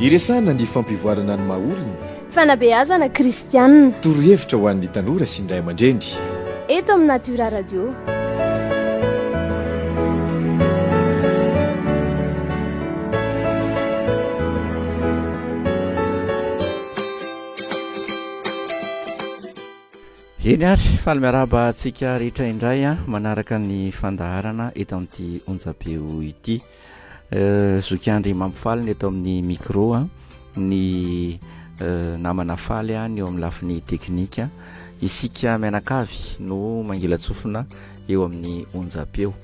Iresahana ny fampivoarana ny maha olona. Fanabeazana kristianina. Torohevitra ho an'ny tanora sy ny ray aman-dreny. Eto amin'ny Natura Radio. Eny ary faly miarahaba antsika rehetra indray a ah, manaraka ny fandaharana eto amin'ity onjabeo ity Euh, Zoky Andry mampifaly ny eto amin'ny micro a, ny euh, namana faly a, ny eo amin'ny lafiny teknika. Isika mianakavy no mangilatsofina eo amin'ny onjam-peo.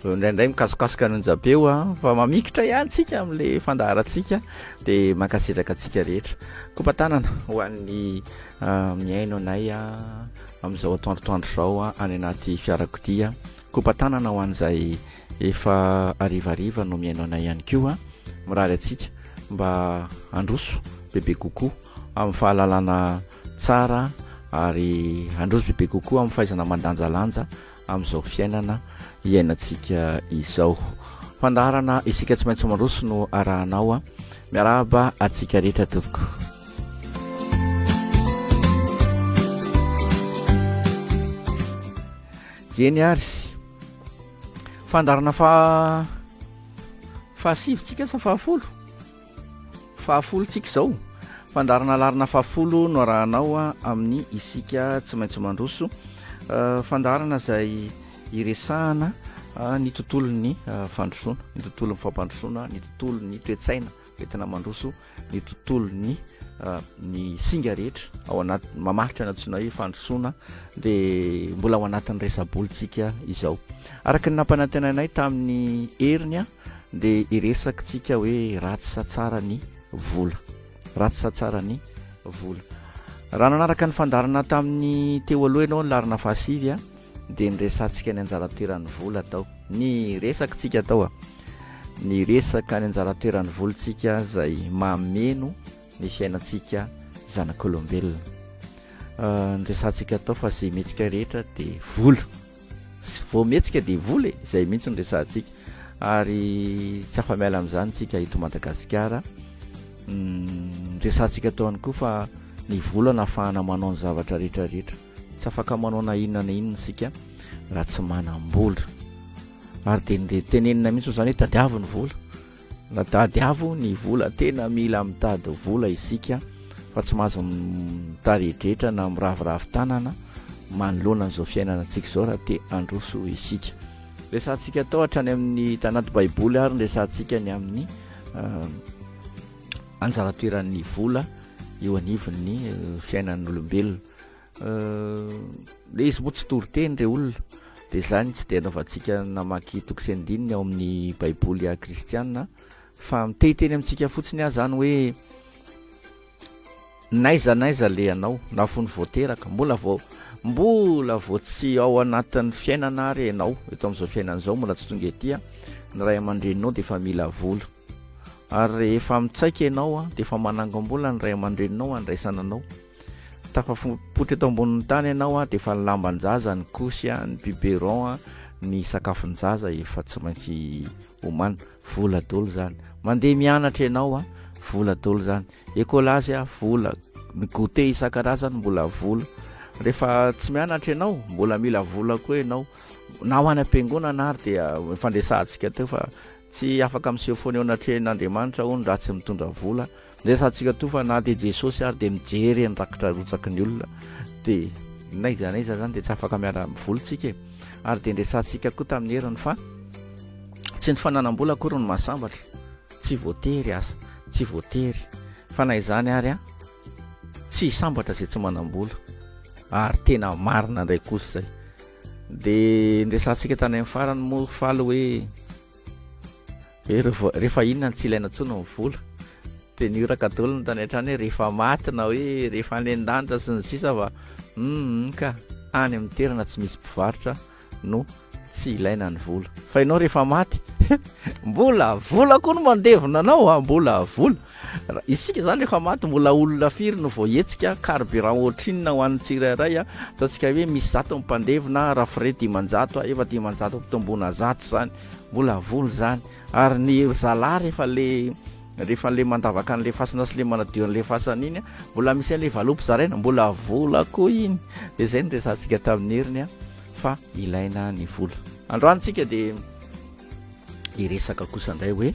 Euh, Indraindray mikasokasoka ny onjam-peo a, fa mamikitra ihany tsika amin'ilay fandaharantsika, dia mankasitraka antsika rehetra. Kopa tanana ho an'ny ah, mihaino anay a, amin'izao atoandrotoandro izao a, any anaty fiarakodia Kopa-tanana ho an'izay efa harivariva no mihaino anay ihany koa. Mirary antsika mba handroso bebe kokoa amin'ny fahalalana tsara ary handroso bebe kokoa amin'ny fahaizana mandanjalanja amin'izao fiainana iainantsika izao. Fandaharana Isika Tsy Maintsy Mandroso no arahanao. Miarahaba antsika rehetra tompoko. Eny ary, fandaharana faha- fahasivintsika sa fahafolo? Fahafolontsika izao. Fandaharana laharana fahafolo no arahanao amin'ny Isika tsy maintsy mandroso. Fandaharana izay iresahana ny tontolon'ny fandrosoana, ny tontolon'ny fampandrosoana, ny tontolon'ny toe-tsaina entina mandroso. ny tontolony ah, ny singa rehetra ao anaty mamaritra ny antsoina hoe fandrosoana dia mbola ao anatin'ny resabolitsika izao araka ny nampanantenanay tamin'ny heriny a ah, dia iresakitsika hoe ratsy sa tsara ny vola ratsy sa tsara ny vola raha nanaraka ny fandarana tamin'ny teo aloha ianao ny larina fahasivy a ah, dia ny resatsika ny anjara toeran'ny vola atao ny resak tsika atao a ny resaka ny anjara toeran'ny volontsika zay mameno ny fiainantsika zanak'olombelona ah, ny resatsika atao fa zay metsika rehetra de vola vao metsika de vola e zay mihitsy ny resatsika ary tsy afamiala am'izany tsika eto madagasikara mm, resatsika ataoany koa fa ny vola nafahana manao ny zavatra rehetrarehetra Tsy afaka manao na inona na inona isika raha tsy manam-bola. Ary dia nire- tenenina mihitsy izany hoe tadiavo ny vola. Na tadiavo ny vola, tena mila mitady vola isika fa tsy mahazo m- mitaredretra na miraviravy tanana manoloana an'izao fiainana antsika izao raha te handroso isika. Resahantsika tao hatrany amin'ny tanaty Baiboly ary ny resahantsika ny amin'ny anjara toeran'ny vola eo anivon'ny fiainan'ny olombelona. le izy moa tsy toriteny re olona de zany tsy de anaovantsika namaky toko sy andininy ao amin'ny baiboly a kristiana fa mitehiteny amintsika fotsiny ah zany hoe naiza naiza le anao na fony voateraka mbola vao mbola vao tsy ao anatin'ny fiainana ary ianao eto am'izao fiainana zao mbola tsy tonga etya ny ray aman-dreninao de efa mila vola Ary rehefa mitsaika ianao dia efa manangom-bola ny ray aman-dreninao handraisana anao. Tafapoitra eto ambonin'ny tany ianao dia efa ny lamban-jaza, ny kosy, ny biberon, ny sakafon-jaza efa tsy maintsy omana. Vola dolo izany. Mandeha mianatra ianao, vola dolo izany. Ekolazy, vola. Ny goûter isan-karazany mbola vola. Rehefa tsy mianatra ianao, mbola mila vola koa ianao. Na ho any am-piangonana ary dia efa niresahantsika teo fa Tsy afaka miseho foana eo anatrehan' Andriamanitra hono raha tsy mitondra vola. Resahantsika toa fa na dia Jesosy ary dia mijery ny rakitra arotsaky ny olona dia n'aiza n'aiza izany dia tsy afaka miaraka amin'ny vola isika e. Ary dia niresahantsika koa tamin'ny heriny fa tsy ny fananam-bola akory no mahasambatra, tsy voatery aza, tsy voatery fa na izany ary an, tsy hisambatra izay tsy manam-bola ary tena marina indray kosa izay. Dia niresahantsika tany amin'ny farany moa faly hoe rehefa inona no tsy ilaina intsony ny vola. Dia ny oraka daholo ny tany an-trano hoe rehefa maty na hoe rehefa any an-danitra sy ny sisa fa hum ka any amin'ny toerana tsy misy mpivarotra no tsy ilaina ny vola. Fa ianao rehefa maty mbola vola koa no mandevina anao a, mbola vola. Isika zany efa maty mbola olona firy no voahetsika, carburant ohatrinona ho an'ny tsirairay a, ataontsika hoe misy zato ny mpandevina a, raha frais dimanjato a, efa dimanjato ampitomboina zato zany, mbola vola zany, ary ny ry zalahy rehefa le rehefa le mandavaka an'le fasana sy le manadio an'le fasana iny a, mbola misy an'le valopy zaraina, mbola vola koa iny, de zay no resahantsika tamin'ny heriny a, fa ilaina ny vola. Androany tsika de hiresaka kosa ndray hoe.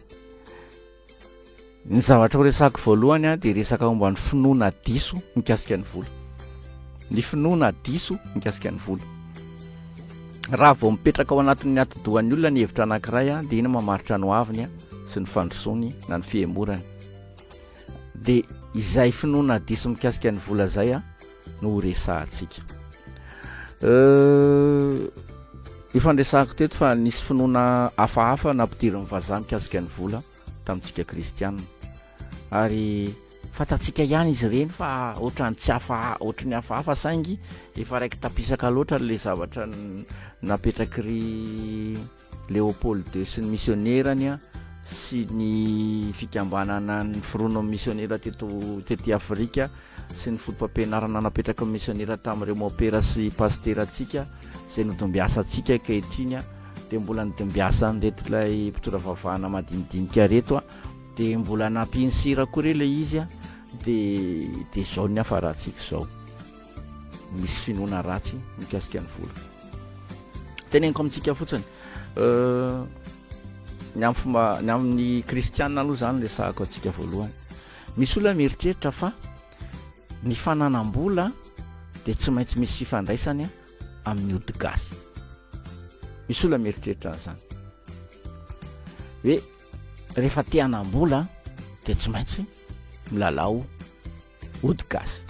Ny zavatra ho resahako voalohany a dia resaka momba ny finoana diso mikasika ny vola, ny finoana diso mikasika ny vola. Raha vao mipetraka ao anatin'ny atidohan'ny olona ny hevitra anankiray a dia iny mamaritra ny hoaviny a sy ny fandrosoany na ny fihemorany. Dia izay finoana diso mikasika ny vola izay a. no ho resahantsika. Efa niresahako teto fa nisy finoana hafahafa nampidirin'ny vazaha mikasika ny vola tamintsika kristianina. Ary fantatsika ihany izy ireny fa ohatrany tsy hafa ohatry ny hafahafa saingy efa raiki-tapisaka loatra le zavatra napetraky ry Léopold ii sy ny misionerany sy ny fikambanana niforona amin'ny misionera teto tety Afrika sy ny fotopampianarana napetraky ny misionera tamin'ireo mopera sy pasiterantsika izay nodimbiasa antsika ankehitriny dia mbola nidimbiasa an'ireto ilay mpitondra vavahana madinidinika reto a dia mbola nampiany sira koa re ilay izy a dia dia izao ny hafarantsika izao misy finoana ratsy mikasika ny vola teneniko amintsika fotsiny euh, ny am fomba ny amin'ny kristianina aloha zany le sahako antsika voalohany misy olona mieritreritra fa ny fananam-bola de tsy maintsy misy fifandraisany amin'ny odigasy misy olona mieritreritra ny zany hoe rehefa tehanam-bola de tsy maintsy milalao Ody gasy.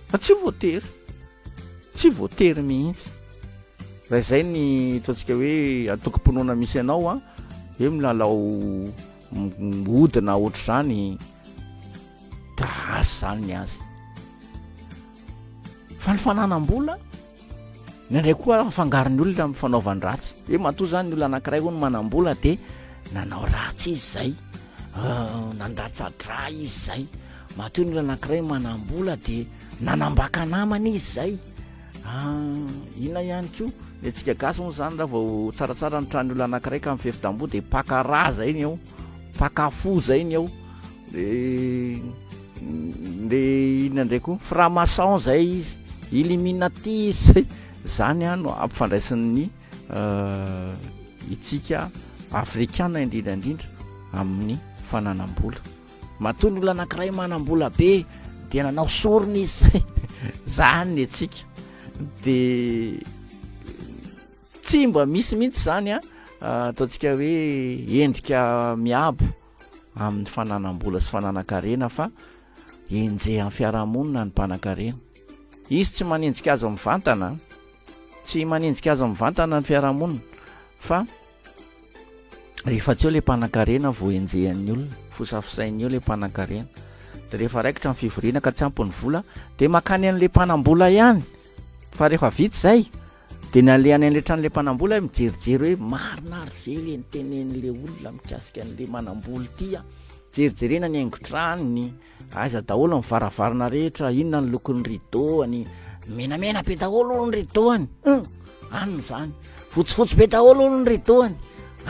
Fa tsy voatery. Tsy voatery mihitsy. Raha izay ny ataontsika hoe antokom-pinoana misy anao a, hoe milalao hodina ohatr'izany dia raha ratsy izany ny azy. Fa ny fananam-bola. Indraindray koa afangaro ny olona amin'ny fanaovany ratsy. Hoe matoa izany ny olona anankiray hono manam-bola dia nanao ratsy izy izay, euh, nandatsa-drà izy izay. Matoa ny olona anankiray manam-bola dia nanambaka namana izy izay. Ah, inona ihany koa? Ny antsika gasy moa izany raha vao tsaratsara ny tranon'ny olona anankiray ka mifefy tamboho dia paka rà izay ny ao. Mpaka fo zay ny ao de le inona ndray koa franc maçon zay izy illuminatis zany a no ampifandraisin'ny itsika afrikana indrindra indrindra amin'ny fananam-bola matoa ny olona anankiray manam-bola be dia nanao sorona izy zay zany ny antsika de Tsy mba misy mihitsy izany a ataontsika hoe endrika miabo amin'ny fananam-bola sy fananan-karena fa enjehan'ny fiarahamonina ny mpanan-karena. Izy tsy manenjika azy mivantana, tsy manenjika azy mivantana ny fiarahamonina fa rehefa tsy eo ilay mpanan-karena vao enjehan'ny olona, fosafosainy eo ilay mpanan-karena. Dia rehefa raikitra ny fivoriana ka tsy ampy ny vola dia mankany an'ilay mpanam-bola ihany fa rehefa vita izay Dia nalehany an'ilay tranolay mpanambola aho mijerijery hoe marina ary ve ilay nitenenin'ilay olona mikasika an'ilay manambola ity an? Jerijerena ny haingon-tranony, aiza daholo ny varavarana rehetra, inona ny lokon'ny rideau-any, menamena be daholo hono ny rideau-any, hum! any izany, fotsifotsy be daholo hono ny rideau-any,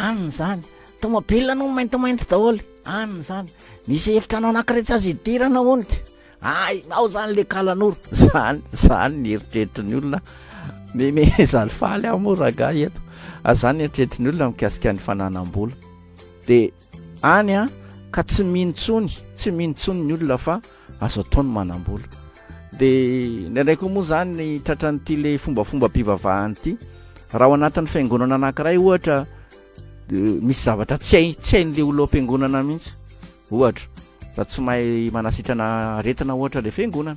any izany, tomobiliny hono maintimainty daholo, any izany, misy efitrano anankiray tsy azo idirana hono ity. Hainao zany le kalanoro. Zany zany ny eritreritry ny olona memeza ny faly aho moa ragahy eto a zany eritreritry ny olona mikasika ny fananam-bola de any a ka tsy mino tsony tsy mino tsony ny olona fa azo atao ny manam-bola de ndraindray koa moa zany ny tratra n'ity le fombafomba mpivavahany ity raha ao anatin'ny fiangonana anankiray ohatra misy zavatra tsy hay tsy hain'le olo am-piangonana mihitsy Ohatra, raha tsy mahay manasitrana aretina ohatra ilay fiangonana,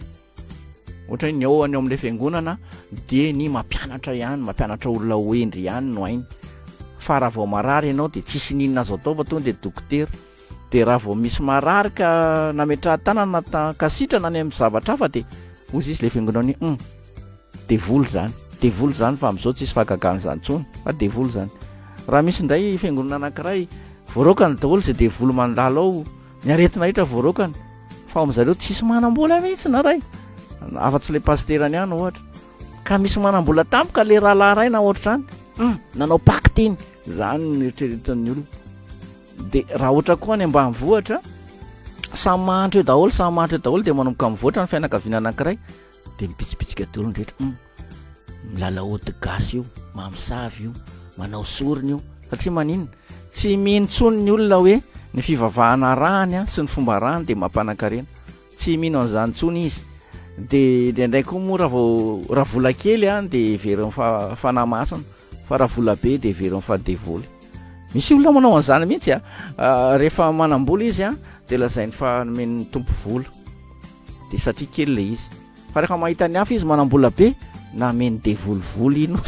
ohatra hoe ny ao any ao amin'ilay fiangonana dia ny mampianatra ihany, mampianatra olona ho hendry ihany no hainy, fa raha vao marary ianao dia tsisy n'inona azo atao fa tonga dia dokotera, dia raha vao misy marary ka nametrahan-tanana ta- ka sitrana any amin'ny zavatra hafa dia hoy izy ilay fiangonana hoe hum. Devoly zany. Devoly zany fa amizao tsisy fahagagana zany tsony fa devoly zany. Raha misy ndray fiangonana anakiray voaraokany daholo ze devoly mandalo ao ny aretina rehetra voaraokany fa ao amizareo tsisy manambola mihitsy na ray afa tsy le pasitera ny any ohatra ka misy manambola tampoka le rahalahy ray na ohatrany hum nanao pacte iny zany ny eritreretin'ny olona de raha ohatra koa any ambany vohatra samy mahantra eo daholo samy mahantra eo daholo de manomboka mivoatra ny fianakaviana anakiray dia mipitsipitsika daholo ny rehetra hum milalao ody gasy io mamosavy io manao sorona io satria maninona tsy mino intsony ny olona hoe ny fivavahana arahany a sy ny fomba arahany dia mampanan-karena tsy mino an'izany intsony izy dia indraindray koa moa raha vao raha vola kely a dia heverin'ny fa fanahy masina fa raha vola be dia heverin'ny fa devoly misy olona manao an'izany mihitsy a rehefa manam-bola izy a dia lazainy fa nomen'ny tompo vola de satria kely le izy fa rehefa mahita ny hafa izy manambola be na ameny devolivoli ino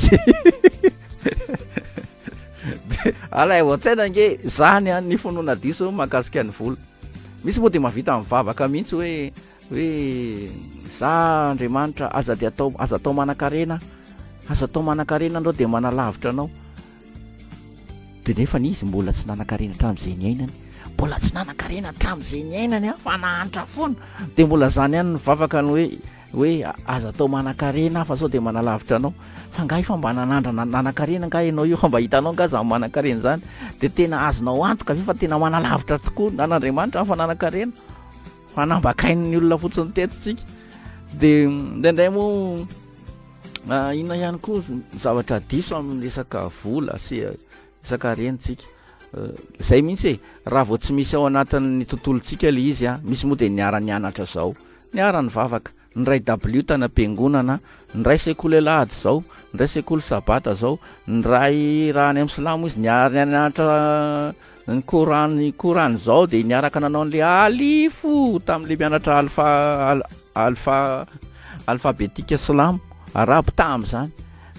alay oatsaina nge zany any ny fonona diso mahakasika ny vola misy moa de mahavita mivavaka mihitsy hoe hoe za andriamanitra aza de atao aza atao manan-karena aza atao manan-karena anao de manalavitra anao Dia nefany izy mbola tsy nanan-karena hatramin'izay niainany. Mbola tsy nanan-karena hatramin'izay niainany aho fa nahantra foana. Dia mbola izany ihany ny vavaka ny hoe hoe aza atao manan-karena aho fa sao dia manalavitra anao. Fa angaha efa mba nanandrana nanan-karena angaha ianao io? Fa mba hitanao angaha izaho manan-karena izany? Dia tena azonao antoka ve fa tena manalavitra tokoa an' Andriamanitra aho fa nanan-karena? Fa nambakain'ny olona fotsiny teto tsika. Dia indraindray moa Inona ihany koa ny zavatra diso amin'ny resaka vola sy eh, resaka harentsika eh, zay mihitsy e raha vao tsy misy ao anatin'ny tontolontsika le izy a ah, misy moa dia niara-nianatra zao niara-nivavaka nyray w tana am-piangonana nyray sekoly alahady zao nyray sekoly sabata zao nyray raha any amin'ny silamo izy niara-nianatra Ny Coran ny Coran izao dia niaraka nanao an'ilay alifo tamin'ilay mianatra alfa alfa alfabetika silamo arabo tamin'izany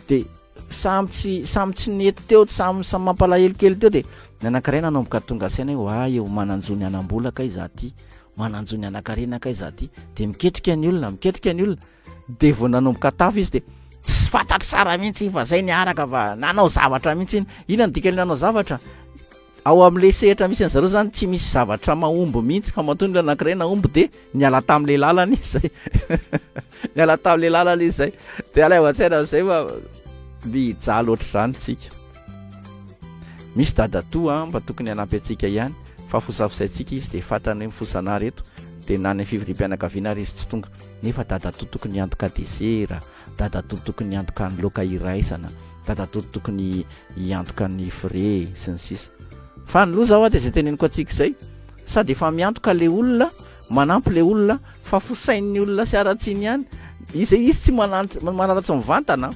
dia samy tsy samy tsy nety teo samy samy mampalahelo kely teo dia ny anankiray nanomboka tonga saina hoe oa eo mananjo ny anam-bola kay za ty mananjo ny anankarena kay za ty dia miketrika ny olona miketrika ny olona dia vao nanomboka tafo izy dia tsy fantatro tsara mihitsy fa zay niaraka fa nanao zavatra mihitsy iny ina ny dikany nanao zavatra ao amin'la sehatra misy any zareo zany tsy misy zavatra mahomby mihitsy fa matoa nla anakiray nahomby dia niala tam'la lalana izy zay niala tam'la lalana izy zay de alaivatsaina am'zay fa miija loatra zany tsika misy dadatoa mba tokony hanampy antsika ihany fa fosafosaintsika izy de fatany hoe mifosana ary eto de nany fividim-pianakaviana ary izy tsy tonga nefa dadatoa tokony hiantoka desera, dadatoa tokony hiantoka ny loka iraisana, dadatoa tokony hiantoka ny frais sy ny sisa Fa ny loza hoa dia izay teneniko antsika izay, sady efa miantoka ilay olona, manampy ilay olona, fa fosain'ny olona sy haratsiny ihany, izay izy tsy manaratsy mivantana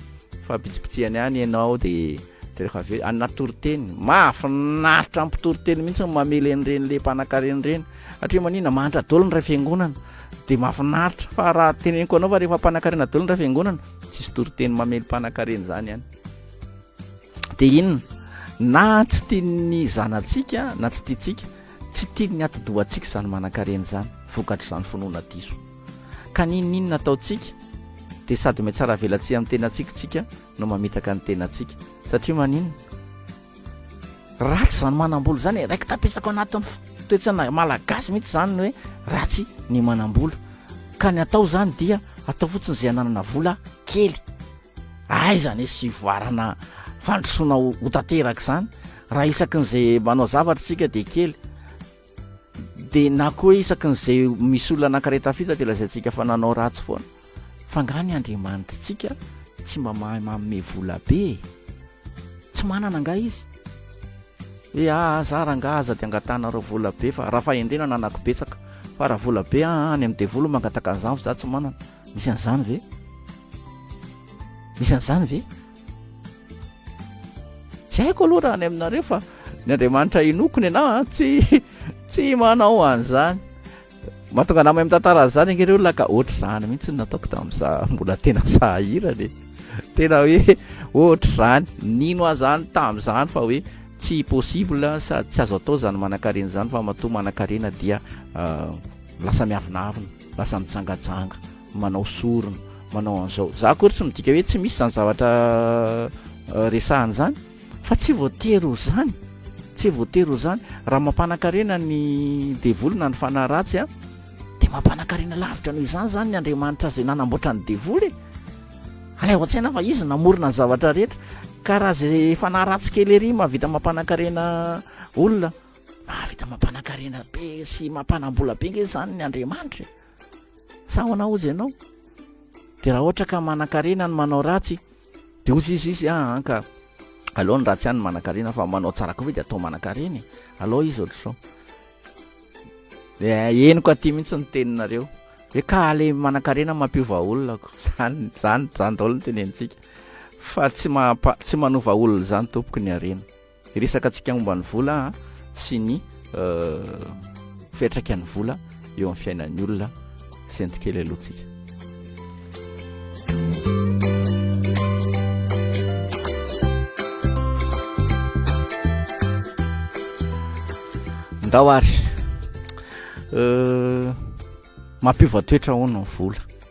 fa bitsibitsihany ihany ianao dia dia rehefa avy eo anona toriteny, mahafinaritra ny mpitoriteny mihitsy ny mamela ireny le mpanankarena ireny, satria manina, mahantra daholo ny iray fiangonana, dia mahafinaritra fa raha teneniko anao fa rehefa mpanakarena daholo ny ray fiangonana tsisy toriteny mamely mpanakarena zany any dia inona na tsy tian'ny zanatsika na tsy tiantsika tsy tian'ny atidohantsika izany manakarena izany vokatra izany finoana diso ka ninoninona ataontsika dia sady metsara velatsy amin'ny tenantsika tsika no mamitaka ny tenantsika satria manino Ratsy izany manam-bola izany e, raiki-tapesako anatin'ny f- toetsaina malagasy mihitsy izany ny hoe ratsy ny manam-bola. Ka ny atao izany dia atao fotsiny izay ananana vola kely. Aiza anie sy hivoarana fandrosoana ho ho tanteraka izany raha isakin'izay manao zavatra isika dia kely. Dia na koa hoe isaky ny izay misy olona nankareta fita dia lazaintsika fa nanao ratsy foana. Fa angaha ny Andriamanitritsika tsy mba mahay manome vola be e? Tsy manana angaha Izy? Hoe aa ah, za rangaha aza dia angatahanareo vola be fa raha fahendrena ananako betsaka. Fa raha vola be aa ah, any amin'ny devoly mangataka an'izany fa za tsy manana. Misy an'izany ve? Misy an'izany ve? Tsy haiko aloha raha any aminareo fa ny Andriamanitra inoako ny anao tsy tsy manao an'izany. Mahatonga anao amin'ny tantara an'izany ange ireo laka ohatr'izany mihitsy nataoko tamin'iza mbola tena sahirana e. Tena hoe ohatr'izany nino azany tamin'izany fa hoe tsy possible sady tsy azo atao izany manankarena izany fa matoa manankarena dia euh, lasa miavonavona. Lasa mijangajanga, manao sorona, manao an'izao. Za akory tsy midika hoe tsy misy izany zavatra resahana izany fa tsy voatery ho izany. Tsy voatery ho izany. Raha mampanan-karena ny devoly na ny fanahy ratsy a, dia mampanan-karena lavitra noho izany izany ny andriamanitra izay nanamboatra ny devoly e. Alaivo an-tsaina fa izy namorona ny zavatra rehetra ka raha izay fanahy ratsy kely ery mahavita mampanan-karena olona, Mahavita mampanankarena be sy mampanam-bola be nge izany ny Andriamanitra e. Sa ahoana hozy ianao? Dia raha ohatra ka manankarena ny manao ratsy dia hozy izy izy ah, an ka aleo ny ratsy ihany ny manankarena fa manao tsara koa ve dia atao manankarena e. Aleo izy ohatr'izao. Dia henoko aty mihitsy ny teninareo. Hoe ka le manankarena mampiova olona ko. Zany zany zany daholo ny tenentsika. Fa tsy mampa- tsy manova olona izany tompoko ny harena. Hiresaka antsika momba ny vola sy ny fiantraikan'ny vola eo amin'ny fiainan'ny olona sento kely alohantsika. Ndao ary euh, mampiova toetra ahoana ny vola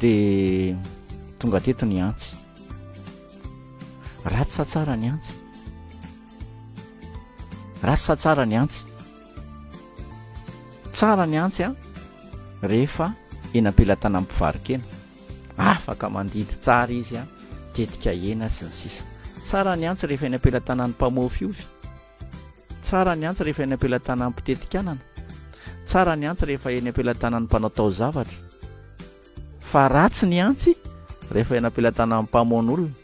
dia tonga teto ny antsy ratsy sa tsara ny antsy ratsy sa tsara ny antsy tsara ny antsy a rehefa eny am-pelatana ny mpivarikena afaka mandidy tsara izy a tetika ena sy ny sisa tsara ny antsy rehefa eny am-pelatanan'ny mpamoafy ovy Tsara ny antsy rehefa eny am-pelatanan'ny mpiteti-kanana. Tsara ny antsy rehefa eny am-pelatanan'ny mpanao taozavatra. Fa ratsy ny antsy rehefa eny am-pelatanan'ny mpamono olona.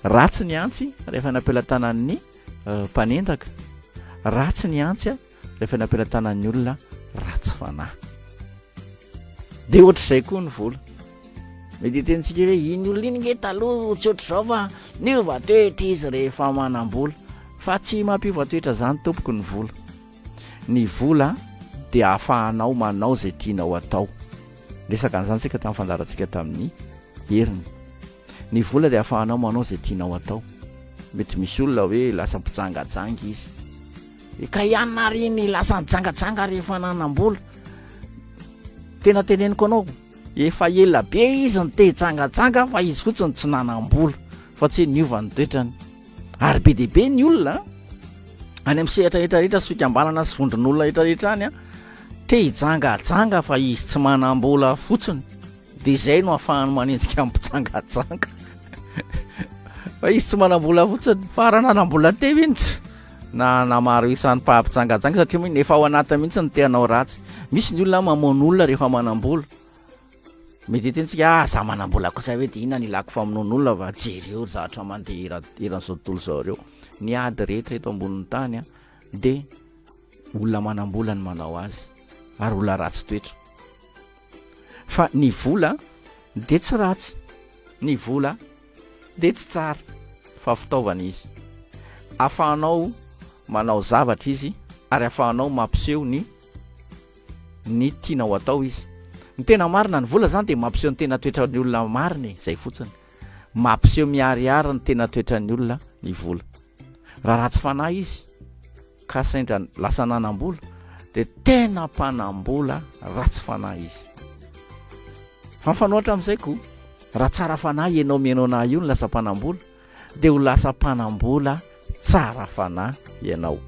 Ratsy ny antsy rehefa eny am-pelatanan'ny eh, mpanendaka. Ratsy ny antsy rehefa eny am-pelatanan'ny olona ratsy fanahy. Dia ohatr'izay koa ny vola. Mety hitenitsika hoe iny olona iny nge taloha tsy ohatr'izao fa niova toetra izy rehefa manam-bola. Fa tsy mampiova toetra izany tompoko ny vola. Ny vola dia ahafahanao manao izay tianao atao. Niresaka an'izany isika tamin'ny fandaharantsika tamin'ny heriny. Ny vola dia ahafahanao manao izay tianao atao. Mety misy olona hoe lasa mpijangajanga izy. Eka ihany ary iny lasa nijangajanga rehefa nanam-bola. Tena teneniko anao. Efa ela be izy nitejangajanga fa izy fotsiny tsy nanam-bola fa tsy hoe niova ny toetrany. Ary be dia be ny olona any amin'ny sehatra rehetra rehetra sy fikambanana sy vondron'olona rehetra rehetra any an, te hijangajanga fa izy tsy manam-bola fotsiny. Dia izay no hafahany manenjika ny mpijangajanga. Fa izy tsy manam-bola fotsiny. Fa raha nanam-bola teo izy. na hanamaro isa ny mpampijangajanga satria moa iny efa ao anatiny mihitsy ny te hanao ratsy misy ny olona mamono olona rehefa manam-bola mety hetintsika ah za manam-bola kosa hoe dia inona ny ilako famonoana olona fa jereo ry zatra mandeha era- eran'izao tontolo izao ireo ny ady rehetra eto ambonin'ny tany a dia olona manam-bola ny manao azy ary olona ratsy toetra fa ny vola dia tsy ratsy ny vola dia tsy tsara fa fitaovana izy. Afahanao manao zavatra izy ary afahanao mampiseho ny ny tianao atao izy. Ny tena marina, ny vola izany dia mampiseho ny tena toetran'ny olona marina e, izay fotsiny. Mampiseho miharihary ny tena toetran'ny olona ny vola. Raha ratsy fanahy izy, ka sendra lasa nanambola dia tena mpanambola ratsy fanahy izy fa mifanohatra amin'izay koa raha tsara fanahy ianao mihaino anahy io ny lasa mpanambola dia ho lasa mpanambola tsara fanahy ianao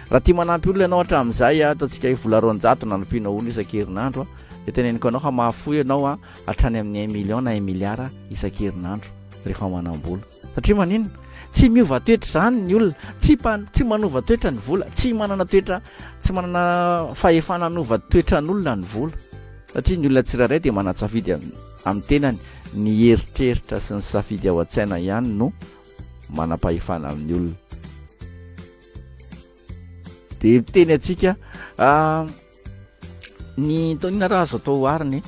raha tia manampy olona ianao hatramin'izay a ataontsika hoe vola roanjato nanompiana olona isan-kerinandro a dia teneniko anao fa mahafoy ianao a hatrany amin'ny un million na un milliard isan-kerinandro rehefa manambola Satria maninona? Tsy miova toetra izany ny olona, tsy mpa, tsy manova toetra ny vola, tsy manana toetra, tsy manana fahefana hanova toetran'olona ny vola. Satria ny olona tsirairay dia manan-tsafidy amin'ny tenany, ny eritreritra sy ny safidy ao an-tsaina ihany no manam-pahefana amin'ny olona. dia miteny antsika ah, ny taonina raha azo atao ohariny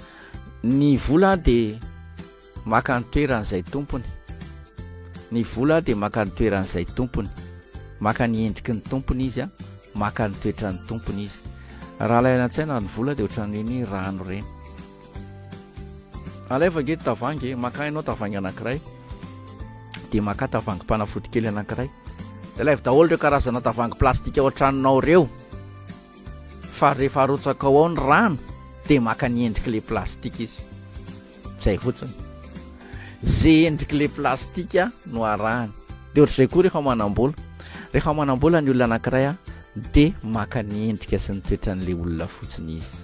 ny vola dia maka ny toeran'izay tompony ny vola dia maka ny toeran'izay tompony maka ny endriky ny tompony izy a maka ny toetran'ny tompony izy raha laina an-tsaina ny vola dia ohatran'ireny rano ireny Alaivo ange ny tavoahangy e, makà ianao tavoahangy anankiray dia makà tavoahangim-panafody kely anankiray. Dia alaivo daholo ireo karazana tavoahangy plastika ao an-tranonao ireo. Fa rehefa arotsakao ao ny rano dia maka ny endrik'ilay plastika izy. Izay fotsiny. Izay endrik'ilay plastika no arahany. Dia ohatr'izay koa rehefa manam-bola. Rehefa manam-bola ny olona anankiray dia maka ny endrika sy ny toetran'ilay olona fotsiny izy.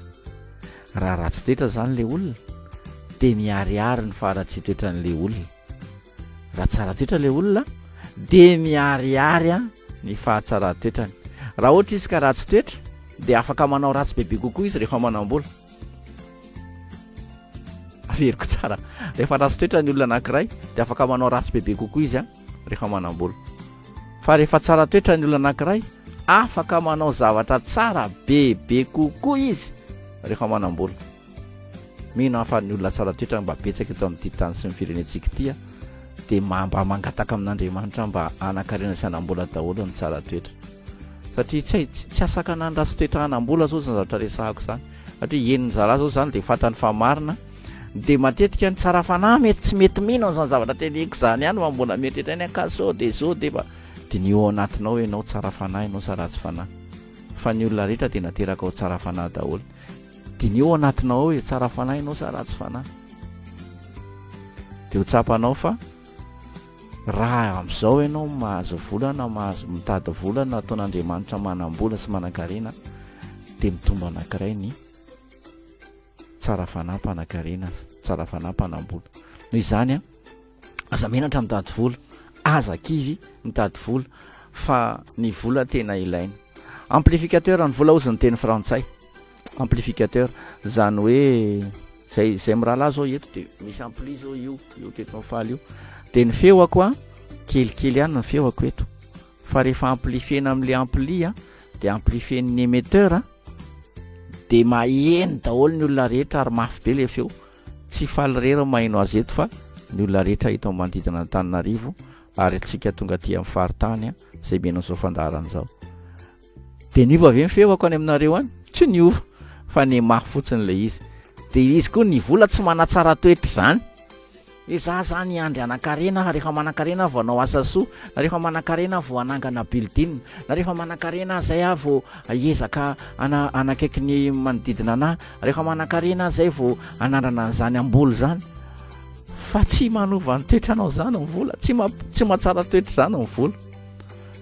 Raha ratsy toetra zany le olona de miharihary ny faharatsy toetran le olona. Raha tsara toetra le olona de miharihary an ny fahatsaran toetrany. Raha ohatra izy ka ratsy toetra de afaka manao ratsy bebe kokoa izy rehefa manambola. Averiko tsara, rehefa ratsy toetra ny olona anakiray de afaka manao ratsy bebe kokoa izy an. rehefa manam-bola. Fa rehefa tsara toetra ny olona anankiray, afaka manao zavatra tsara bebe kokoa izy rehefa manam-bola. Mino aho fa ny olona tsara toetra mba betsaka eto amin'ity tany sy ny firenentsika ity dia mba mangataka amin'Andriamanitra mba hanan-karena sy hanam-bola daholo ny tsara toetra. Satria tsy hay tsy asakana ny ratsy toetra hanam-bola izao izany zavatra resahako izany. Satria henon'ny zalahy izao izany dia fantany fa marina Dia matetika ny tsara fanahy mety tsy mety mino an'izany zavatra teneniko izany ihany fa mbola mieritreritra any ka sao dia izao dia efa diniho ao anatinao ianao tsara fanahy ianao sa ratsy fanahy fa ny olona rehetra dia nateraka ao tsara fanahy daholo diniho ao anatinao ao e tsara fanahy ianao sa ratsy fanahy dia ho tsapanao fa raha amin'izao ianao mahazo volana mahazo mitady volana ataon'andriamanitra manam-bola sy manan-karena dia mitombo anankiray ny Tsara fanahy mpanakarena, tsara fanahy mpanambola. Noho izany an, aza menatra mitady vola, aza kivy mitady vola fa ny vola tena ilaina. Amplificateur ny vola ozy ny teny frantsay. Amplificateur, zany hoe zay zay mirahalahy zao eto de misy ampli zao io, io teto no faly io. De ny feoko an, kelikely ihany ny feoko eto. Fa rehefa amplifiena amle ampli an, de amplifien'ny emetteur an, Dia maheno daholo ny olona rehetra ary mafy be ilay feo. Tsy faly irery ny maheno azy eto fa ny olona rehetra eto amin'ny manodidina an'Antananarivo ary antsika tonga aty amin'ny faritany izay mihaino an'izao fandaharana izao. Dia niova ve ny feoko any aminareo any? Tsy niova fa ny mafy fotsiny ilay izy. Dia izy koa ny vola tsy manatsara toetra izany. Ezaho zany hiandry hanankarena aho, rehefa manankarena aho vao hanao asa soa, na rehefa manankarena aho vao hanangana building, na rehefa manankarena aho izay aho vao hiezaka hana- hanakaiky ny manodidina anahy, rehefa manankarena aho izay vao hanandrana an'izany hamboly izany. Fa tsy manova ny toetra anao izany ny vola, tsy ma- tsy mahatsara toetra izany ny vola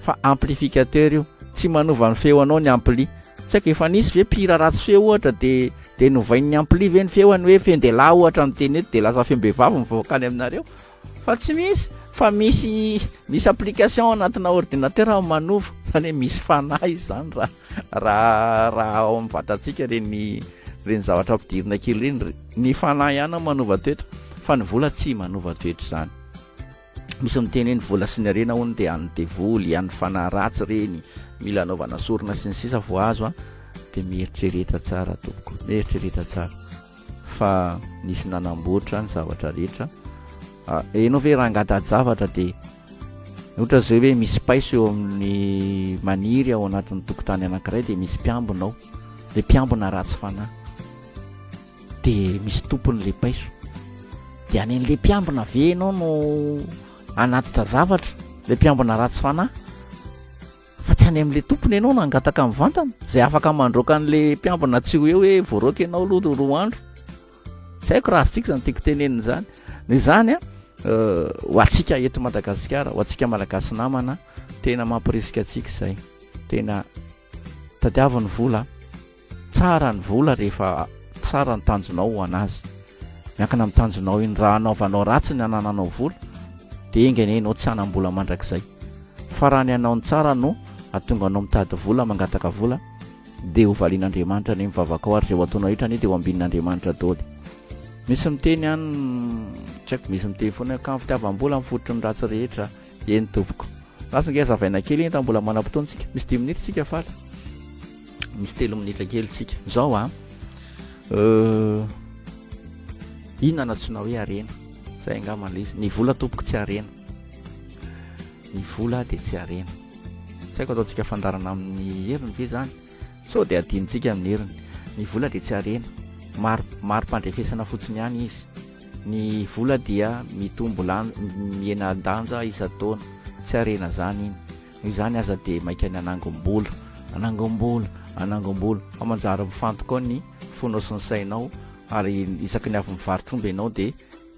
fa amplificateur io, tsy manova ny feo anao ny ampli. Tsy haiko efa nisy ve mpihira ratsy feo ohatra dia. Dia novain'ny ampli ve ny feony hoe fendelahy ohatra no teny eto dia lasa feom-behivavy mivoaka any aminareo? Fa tsy misy fa misy misy application ao anatina ordinateur manova izany hoe misy fanahy izy izany raha raha raha ao amin'ny vatantsika ireny ireny zavatra ampidirina kely ireny, ny fanahy ihany no manova toetra fa ny vola tsy manova toetra izany. Misy miteny hoe ny vola sy ny harena hono dia an'ny devoly, an'ny fanahy ratsy ireny, mila anaovana sorona sy ny sisa vao azo a, dia mieritrereta tsara tompoko, mieritrereta tsara fa nisy nanamboatra ny zavatra rehetra. Ah, enao ve raha angata-javatra dia ohatra izay hoe misy paiso eo amin'ny maniry ao anatin'ny tokotany anankiray dia misy mpiambina ao, dia mpiambina ratsy fanahy. de misy tompony le paiso de any an'le mpiambina ve enao no anatitra zavatra le mpiambina ratsy fanahy fa tsy any am'le tompony enao no angataka mivantana zay afaka mandroaka an'le mpiambina tsy ho eo hoe voaroaka enao aloha ro roa andro tsy haiko raha azontsika zany tiako tenenina zany no izany a euh, ho atsika eto madagasikara ho atsika malagasy namana tena mampirisika atsika izay tena tadiaviny vola Tsara ny vola rehefa tsara ny tanjonao ho an'azy. Miankina amin'ny tanjonao iny. Raha hanaovanao ratsy ny anananao vola, dia enga anie ianao tsy hanam-bola mandrakizay. Fa raha ny hanao ny tsara no hahatonga anao mitady vola, mangataka vola, dia hovalian'Andriamanitra ny vavakao, ary izay ho ataonao rehetra anie dia ho ambinin'Andriamanitra daholo. Misy miteny an, tsy haiko, misy miteny foana an, ka ny fitiavam-bola no fototry ny ratsy rehetra. Eny tompoko. Lasa ange hazavaina kely iny raha mbola manam-potoana tsika. Misy dimy minitra tsika faly. Misy telo minitra kely tsika. Zao a. Euh, inona no antsoina hoe harena? Zay angamba ilay izy. Ny vola tompoko tsy harena. Ny vola dia tsy harena. Tsy haiko ataontsika fandarana amin'ny heriny ve zany? Sao dia adinontsika amin'ny heriny. Ny vola dia tsy harena. Mari, mari-pandrefesana fotsiny ihany izy. Ny vola dia mitombo lan, mihena-danja isan-taona. Tsy harena izany iny. Noho izany aza dia mainka ny hanangom-bola. Hanangom-bola! Hanangom-bola! Fa manjary mifantoka ao ny fonao sy ny sainao, ary isaky ny avy mivarotra omby ianao dia,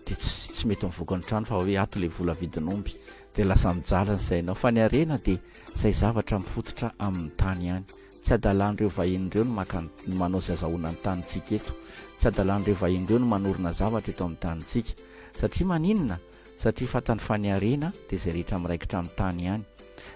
dia tsy, tsy mety mivoaka ny trano fa hoe ato ilay vola avidin'omby. Dia lasa mijaly ny sainao. Fa ny harena dia. Izay zavatra mifototra amin'ny tany ihany. Tsy adalan'ireo vahiny ireo ny maka ny, ny manao sy azahoana ny tanintsika eto. Tsy adalan'ireo vahiny ireo ny manorina zavatra eto amin'ny tanintsika. Satria maninona? Satria fantany fa ny harena dia izay rehetra miraikitra amin'ny tany ihany.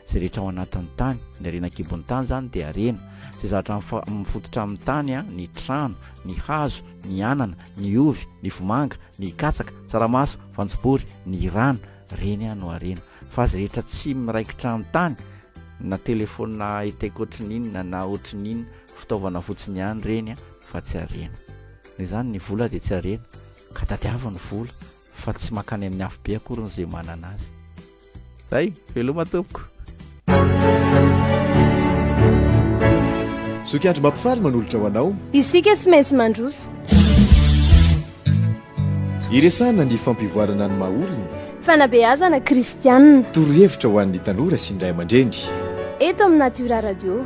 Izay rehetra ao anatin'ny tany. Ny harena an-kibon'ny tany izany dia harena. Izay zavatra mifa, mifototra amin'ny tany, an, ny trano, ny hazo, ny anana, ny ovy, ny vomanga, ny katsaka, tsaramaso, voanjobory, ny rano, Reny aho no harena. Fa azy rehetra tsy miraikitra an-tany, na telefaonina high tech ohatry ny inona na ohatry ny inona, fitaovana fotsiny ihany ireny fa tsy harena. Noho izany ny vola dia tsy harena, ka tadiavo ny vola fa tsy mankany amin'ny afobe akoriny izay manana azy. Zay, veloma tompoko. Zoky andro mampifaly manolotra ho anao. Isika tsy maintsy mandroso. Iresahana ny fampivoarana ny maha-olona. Fanabeazana kristianina. Torohevitra ho an'ny tanora sy ny ray aman-dreny. Eto amin'ny Natura Radio.